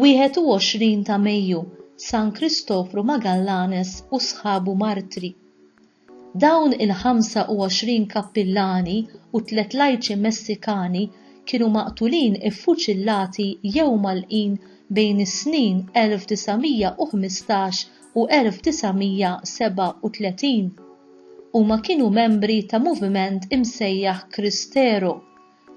Wieħed u għoxrin ta' Mejju, San Kristofru Magallanes u sħabu martri. Dawn il-25 kappillani u tliet lajċi Messikani kienu maqtulin iffuċillati jew mgħallqin bejn is-snin 1915 u 1937. Huma kienu membri ta' moviment imsejjaħ Cristero,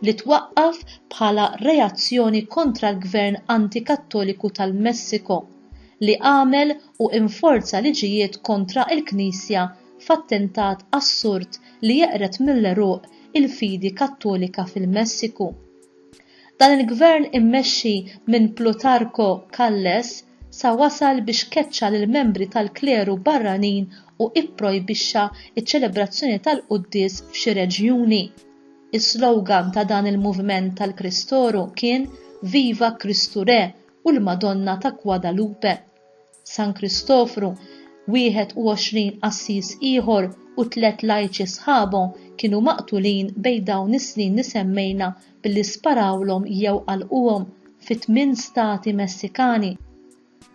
li twaqqaf bħala reazzjoni kontra l-gvern anti-Kattoliku tal-Messiko li għamel u inforza liġijiet kontra l-Knisja f'attentat assurd li jeqred mill-għeruq il-fidi Kattolika fil-Messiku. Dan il-gvern immexxi minn Plutarco Calles sa wasal biex keċċa lill-membri tal-kleru barranin u ipprojbixxa ċ-ċelebrazzjoni tal-quddies f'xi reġjuni. Is-slogan ta' dan il-moviment tal-Kristoru kien Viva Kristu Re u l-Madonna ta' Guadalupe. San Kristofru, 21 qassis ieħor u tliet lajċi sħabu kienu maqtulin bejn dawn is-snin li semmejna billi sparawlhom jew qalquhom fi tmien stati Messikani.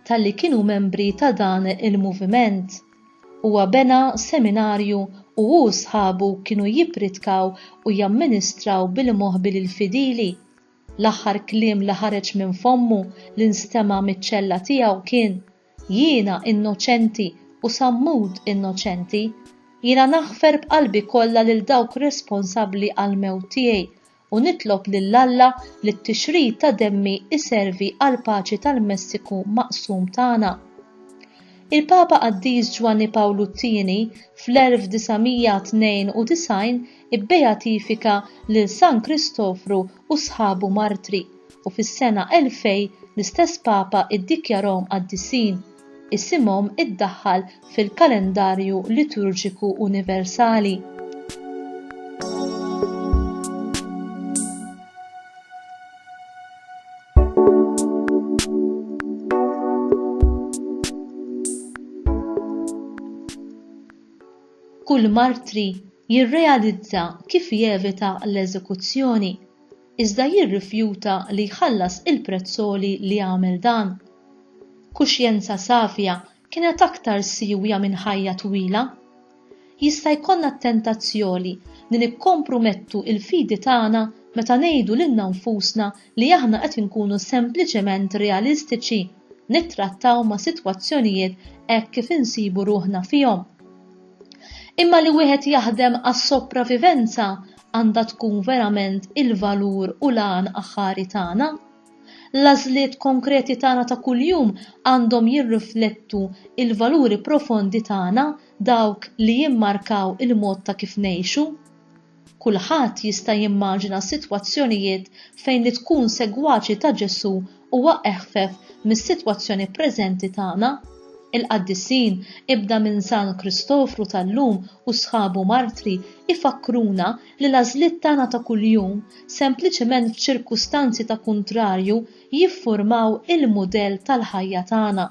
talli kienu membri ta' dan il-moviment. Huwa bena seminarju u hu u sħabu kienu jippritkaw u jamministraw bil-moħbi lill-fidili. L-aħħar kliem li ħareġ minn fommu li nstema' miċ-ċella tiegħu kien, Jiena innoċenti u sammut innoċenti. Jiena naħfer b'qalbi kollha lil dawk responsabbli għall-mewt tiegħi u nitlob lil Alla li t-tixrid ta' demmi iservi għall-paċi tal-Messiku maqsum tagħna. Il-Papa Qaddis Ġwanni Pawlu t-Tieni fl-1992 ibbejatifika lil San Kristofru u sħabu martri u fis-sena 2000 l-istess Papa iddikjarahom qaddisin. isimhom iddaħħal fil-kalendarju liturġiku universali. kull martri jirrealizza kif jevita l-eżekuzzjoni. iżda jirrifjuta li jħallas il-prezz għoli li għamel dan. Kuxjenza safja kienet aktar siewja minn ħajja twila. Jista' jkollna t-tentazzjoni li nikkompromettu l-fidi tagħna meta ngħidu lilna nfusna li aħna qed inkunu sempliċement realistiċi nittrattaw ma' sitwazzjonijiet hekk kif insibu ruħna fihom. Imma li wieħed jaħdem għas-sopravivenza għandha tkun verament il-valur u l-għan aħħari tagħna. L-għażliet konkreti tagħna ta' kuljum għandhom jirriflettu l-valuri profondi tagħna, dawk li jimmarkaw il-mod ta' kif ngħixu. Kulħadd jista' jimmaġina sitwazzjonijiet fejn li tkun segwaċi ta' Ġesù huwa eħfef mis-sitwazzjoni preżenti tagħna. Il-qaddisin, ibda minn San Kristofru tal-lum u sħabu martri, ifakkruna li l-għażliet tagħna ta' kuljum, sempliċement f'ċirkustanzi ta' kuntrarju, jiffurmaw il-mudell tal-ħajja tagħna.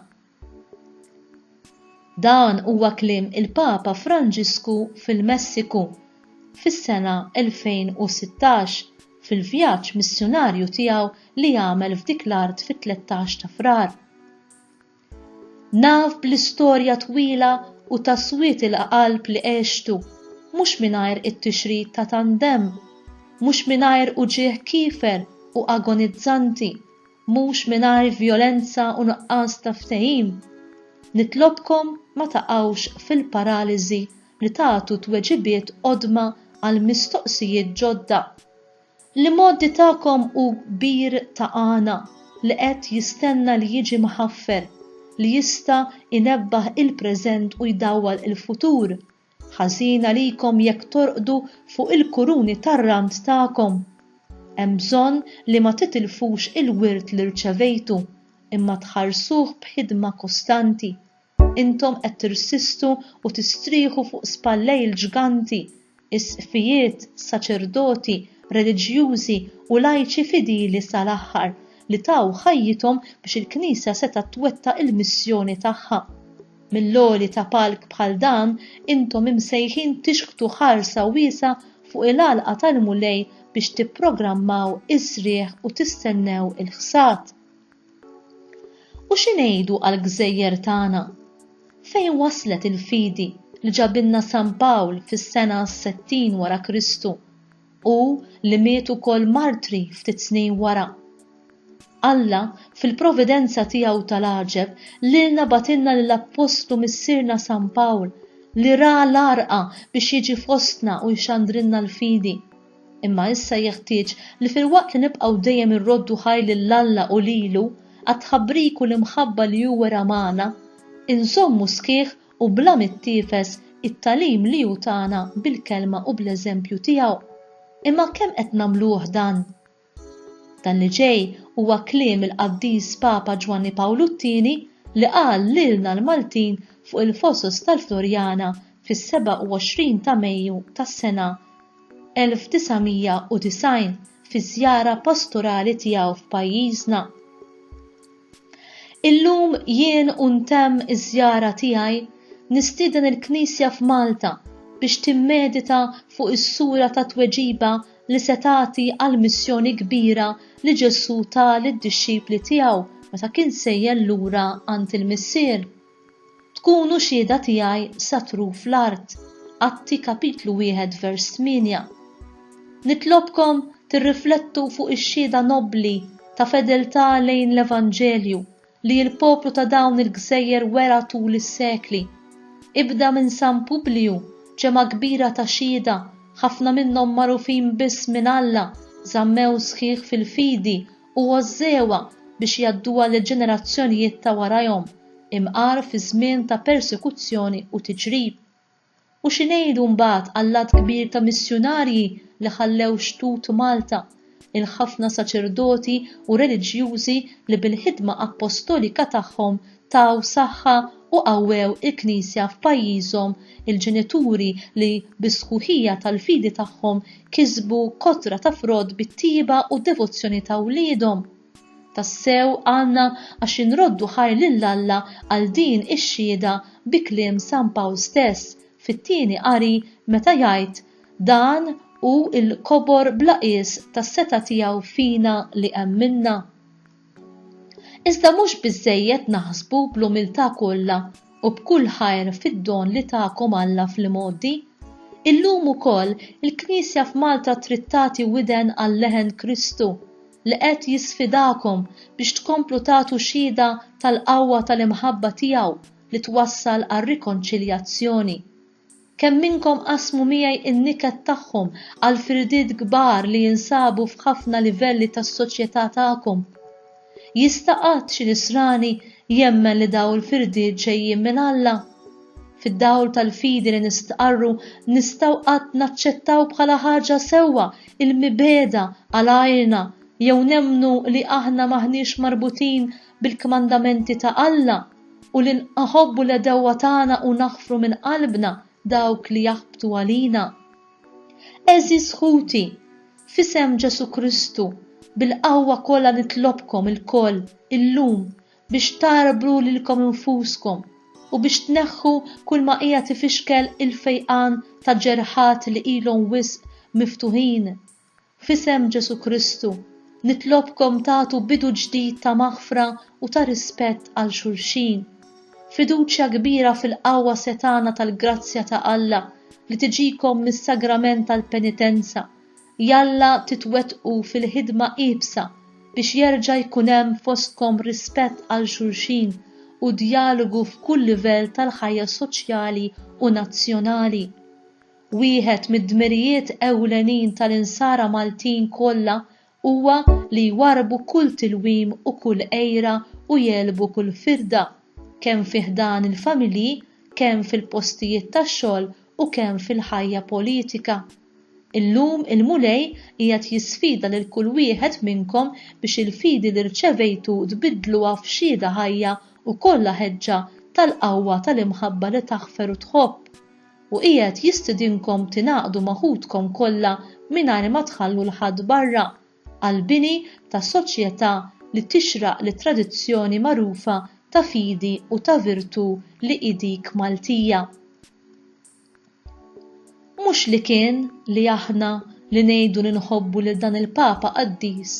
Dan huwa kliem il-Papa Franġisku fil-Messiku fis-sena 2016 fil-vjaġġ missjunarju tiegħu li għamel f'dik l-art fit-tlettax ta' Frar. Naf bl-istorja twila u ta' swied il-qalb li għextu, mhux mingħajr it-tixrid ta' tant demm, mhux mingħajr uġigħ kiefer u agonizzanti, mhux mingħajr vjolenza u nuqqas ta' ftehim, nitlobkom ma taqgħux fil-paraliżi li tagħtu tweġibiet qodma għal mistoqsijiet ġodda. L-imgħoddi tagħkom hu kbir ta' għana li qed jistenna li jiġi mħaffer, li jista' jnebbaħ il-preżent u jdawwal il-futur, Ħażin għalikom jekk torqdu fuq il-kuruni tar-rand tagħkom. Hemm bżonn li ma titilfux il-wirt li rċevejtu, imma tħarsuh b'ħidma kostanti. Intom qed tirsistu u tistrieħu fuq spallejl ġganti, isqfijiet, saċerdoti, reliġjużi u lajċi fidili sal-aħħar li taw ħajjithom biex il-Knisja setgħet twettaq il-missjoni tagħha. Mill-għoli ta' palk bħal dan, intom imsejħin tixħtu ħarsa wiesgħa fuq il-għalqa tal-Mulej biex tipprogrammaw is-srieħ u tistennew il-ħsad. U xi ngħidu għall-gżejjer tagħna? Fejn waslet il-fidi li ġabilna San Pawl fis-sena settin wara Kristu? u li miet ukoll martri ftit snin wara. Alla, fil-providenza tiegħu tal-għaġeb, lilna bagħatilna lill-appostlu missierna San Pawl, li ra l-għarqa biex jiġi fostna u jxandrilna l-fidi. Imma issa jeħtieġ li filwaqt li nibqgħu dejjem irroddu ħajr lil Alla u lilu għat-tħabbrik u l-imħabba li hu wera magħna, inżommu sħiħ u bla mittiefes it-tagħlim li hu tana bil-kelma u bl-eżempju tiegħu. Imma kemm qed nagħmluh dan? Dan li ġej huwa kliem il-Qaddis Papa Ġwanni Pawlu t-Tieni li qal lilna l-Maltin fuq il-Fosos tal-Floriana fis-27 ta' Mejju tas-sena 1990 fiż-żjara pastorali tiegħu f'pajjiżna. Illum jien u ntemm iż-żjara tiegħi nistieden il-Knisja f'Malta biex timmedita fuq is-sura ta' tweġiba li se tagħti għall-missjoni kbira li Ġesù ta lid-dixxipli tiegħu meta kien sejjer lura għand il-Missier. Tkunu xhieda tiegħi sa truf l-art, Atti kapitlu wieħed vers tmienja. Nitlobkom tirriflettu fuq ix-xhieda nobbli ta' fedeltà lejn l-Evanġelju li l-poplu ta' dawn il-gżejjer wera tul is-sekli. Ibda minn San Publiju, ġemgħa kbira ta' xhieda, ħafna minnhom magħrufin biss minn Alla, żammew sħiħ fil-fidi u għożżewha biex jgħadduha lill-ġenerazzjonijiet ta' warajhom, imqar fi żmien ta' persekuzzjoni u tiġrib. U xi ngħidu mbagħad għall-għadd kbir ta' missjunarji li ħallew xtut Malta, il-ħafna saċerdoti u reliġjużi li bil-ħidma appostolika tagħhom taw saħħa u qawwew il-Knisja f'pajjiżhom il-ġenituri li bis-sħuħija tal-fidi tagħhom kisbu kotra ta' frott bit-tjieba u d-devozzjoni ta' wliedhom. Tassew għandna għax inroddu ħajr lil Alla għal din ix-xhieda bi kliem San Pawl stess fit-Tieni Qari meta jgħid, Dan hu l-kobor bla qies tas-setgħa tiegħu fina li emminna. Iżda mhux biżżejjed naħsbu bl-umiltà kollha u b'kull ħajr fid-don li takom Alla fl-imgħoddi. Illum ukoll il-Knisja f'Malta trid tagħti widen għal leħen Kristu li qed jisfidakom biex tkomplu tagħtu xhieda tal-qawwa tal-imħabba tiegħu li twassal għar-rikonċiljazzjoni. Kemm minnkom qasmu miegħi n-niket tagħhom għall-firdiet kbar li jinsabu f'ħafna livelli tas-soċjetà tagħkom? Jista' qatt xi Nisrani jemmen li dawn il-firdiet ġejjin minn Alla? Fid-dawl tal-fidi li nistqarru, nistgħu qatt naċċettaw bħala ħaġa sewwa l-mibegħda għal għajrna jew nemmnu li aħna m'aħniex marbutin bil-kmandamenti ta' Alla? u li nħobbu l-għedewwa tagħna u naħfru minn qalbna dawk li jaħbtu għalina. Għeżież ħuti, f'isem Ġesù Kristu, bil-qawwa kollha nitlobkom ilkoll illum biex tagħrbru lilkom infuskom u biex tneħħu kulma qiegħed ifixkel il-fejqan ta' ġerħat li ilhom wisq miftuħin, F'isem Ġesù Kristu, nitlobkom tagħtu bidu ġdid ta' maħfra u ta' rispett għal xulxin. Fiduċja kbira fil-qawwa setgħana tal-grazzja ta' Alla li tiġikom mis-sagrament tal-penitenza, jalla titwettqu fil-ħidma iebsa biex jerġa' jkun hemm fostkom rispett għal xulxin u djalogu f'kull livell tal-ħajja soċjali u nazzjonali. Wieħed mid-dmirijiet ewlenin tal-Insara Maltin kollha huwa li jwarrbu kull tilwim u kull għira u jegħlbu kull firda, kemm fi ħdan il-familji, kemm fil-postijiet tax-xogħol u kemm fil-ħajja politika. Illum il-Mulej qiegħed jisfida lil kull wieħed minnkom biex il-fidi li rċevejtu tbiddluha f'xhieda ħajja u kollha ħeġġa tal-qawwa tal-imħabba li taħfer u tħobb. u qiegħed jistidinkom tingħaqdu ma' ħutkom kollha mingħajr ma tħallu 'l ħadd barra, għall-bini ta' soċjetà li tixraq lit-tradizzjoni magħrufa ta' fidi u ta' virtù li hi dik Maltija. Mhux li kien li aħna li ngħidu li nħobbu lil dan il-Papa qaddis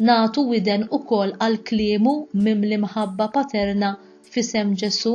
nagħtu widen ukoll għal kliemu mimli mħabba paterna f'isem Ġesù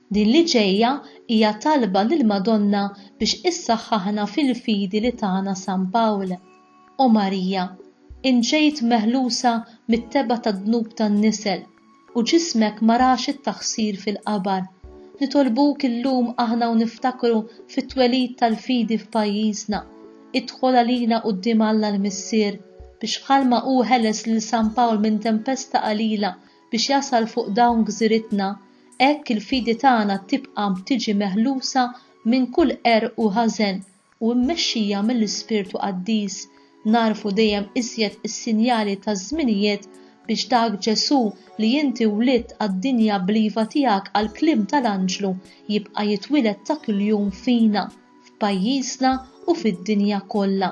Din li ġejja hija talba lill-Madonna biex issaħħaħna fil-fidi li tana San Pawl, O Marija, int ġejt meħlusa mit-tebgħa tad-dnub tan-nisel u ġismek ma rax it-taħsir fil-qabar. Nitolbuk illum aħna u niftakru fit-twelid tal-fidi f'pajjiżna, idħol għalina quddiem Alla l-Missier biex bħalma hu ħeles lil San Pawl minn tempesta qalila biex jasal fuq dawn gżiritna, hekk il-fidi tagħna tibqa' tiġi meħlusa minn kull qerq u ħażen u mmexxija mill-Ispirtu Qaddis, nagħrfu dejjem iżjed is-sinjali taż-żminijiet biex dak Ġesù li inti wlidt għad-dinja bl-iva tiegħek għall-kliem tal-anġlu jibqa' jitwiled ta' kuljum fina, f'pajjiżna u fid-dinja kollha.